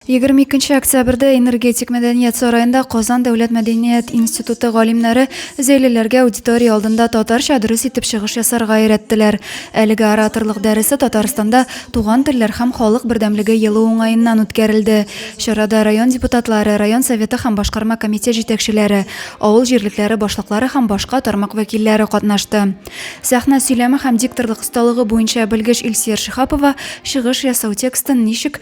Егерме икенче октябрьдә Энергетик мәдәният сараенда Казан дәүләт мәдәният институты галимнәре зәйлеләргә аудитория алдында татарча дөрес итеп чыгыш ясарга өйрәттеләр. Әлеге ораторлык дәресе Татарстанда Туган телләр һәм халык бердәмлеге елы уңаеннан үткәрелде. Чарада район депутатлары, район Советы һәм башкарма комитет җитәкчеләре, авыл җирлекләре башлыклары һәм башка тармак вәкилләре катнашты. Сәхнә сөйләме һәм дикторлык осталыгы буенча белгеч Илсөяр Шиһапова чыгыш ясау текстын ничек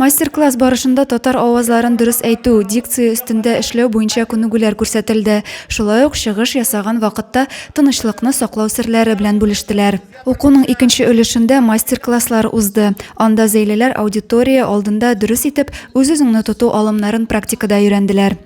Мастер-класс барышында татар авазларын дөрес әйтү, дикция өстендә эшләү буенча күнегүләр күрсәтелде. Шулай ук чыгыш ясаган вакытта тынычлыкны саклау серләре белән бүлештеләр. Укуның икенче өлешендә мастер-класслар узды. Анда зәйлеләр аудитория алдында дөрес итеп үз-үзеңне тоту алымнарын практикада өйрәнделәр.